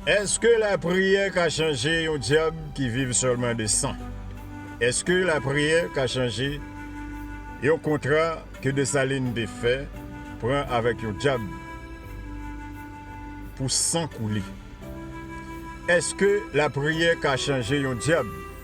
Eske lapriyè ka chanje yon dyab ki viv sèlman de san? Eske lapriyè ka chanje yon kontra ke Desalin te fè pran avèk yon dyab pou san koule? Eske lapriyè ka chanje yon dyab?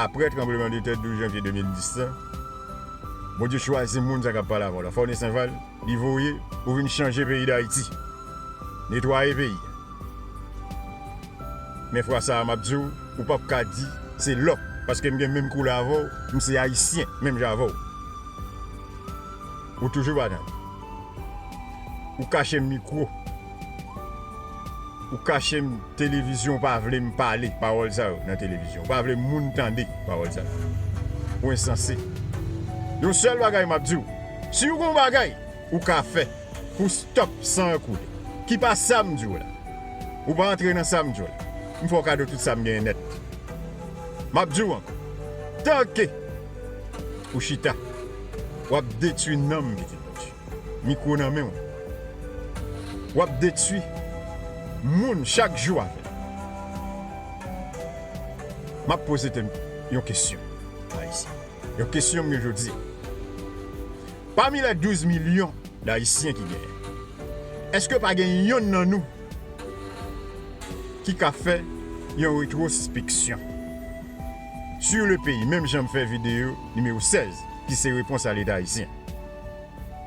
Apre tranbleman de tè 12 janvye 2010 la, Bondye chwazi moun sa kap pale avèw la, Forny Sainval, li voye pou vin chanje peyi Dayiti, netwaye peyi a. Men fwa sa a map diw, ou pap ka di se lòk, paske m gen menm koulè avèw, m se ayisyen menm jan avèw. Ou toujou pa tande. Ou kache mikwo. Ou kache m televizyon ou pa vle m pale pawòl sa yo nan televizyon ou pa vle moun tande pawòl sa yo ou ensanse yon sèl bagay map diw siw gon bagay ou ka fè pou stop san an koule ki pa sam diw la ou pa antre nan sam diw la m fè w kado tout sam genyen nèt map diw ankò tanke ou chita wap detwi nanm pitit Bondye. Mikro nan menw wap detwi moun chak jou avèl. Map poze tèt mwen yon kesyon Ayisyen yo kesyon mwen jodi a. Pami lè 12 milyon dayisyen ki genyen eske pa gen yonn nan nou ki ka fè yon retrospeksyon sur le peyi menm janm fè video nimewo 16 ki se repons a leta ayisyen.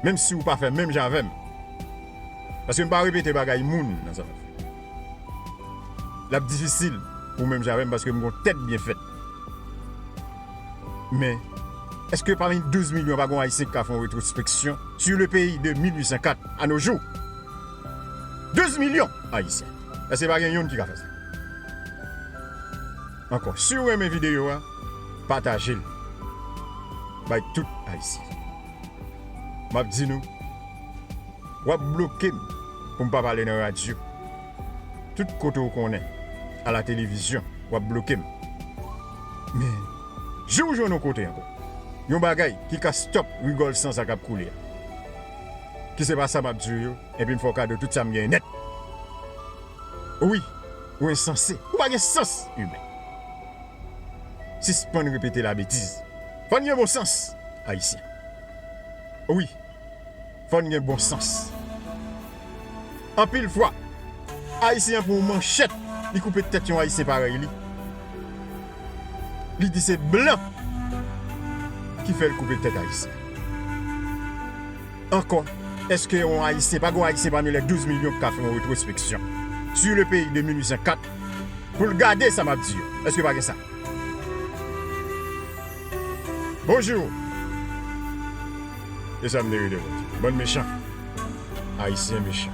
menm si ou pa fè menm jan avè m paske m pa repete bagay moun nan sa m ap fè l ap difisil pou menm jan avè m paske m gon tèt byen fèt men èske pami 12 milyon pa gon ayisyen ki ka fè yon retrospeksyon su le peyi de 1804 a no jou 12 milyon ayisyen èske pa gen youn ki ka fè sa. Ankò siw renmen video a patajel bay tout ayisyen map di nou wap blokem poum pa pale nan radio tout kote ou konnen a la televizyon wap blokem men jouw jwenn yon kote ankò yon bagay ki ka stop rigòl san sa kap koule a ki se pa sa map diw yo enpi m fè w kado tout sam genyen nèt. Wi ou ensanse ou pa gen sans humain sispann repete la betiz fòn gen bon sans ayisyen wi fòn gen bon sans anpil fwa ayisyen an pran yon manchèt li koupe tèt yon ayisyen parèy li li di se blan ki fèl koupe tèt ayisyen. Ankò, èske yon Ayisyen, pa gen yon Ayisyen pami lè 12 milyon ki ka fè yon retwospeksyon sur le peyi de 1804 pou l gade sa m ap di yo? Èske pa gen sa? Bonjou! E sa m te rele, Bondye? Bann mechan! Ayisyen mechan!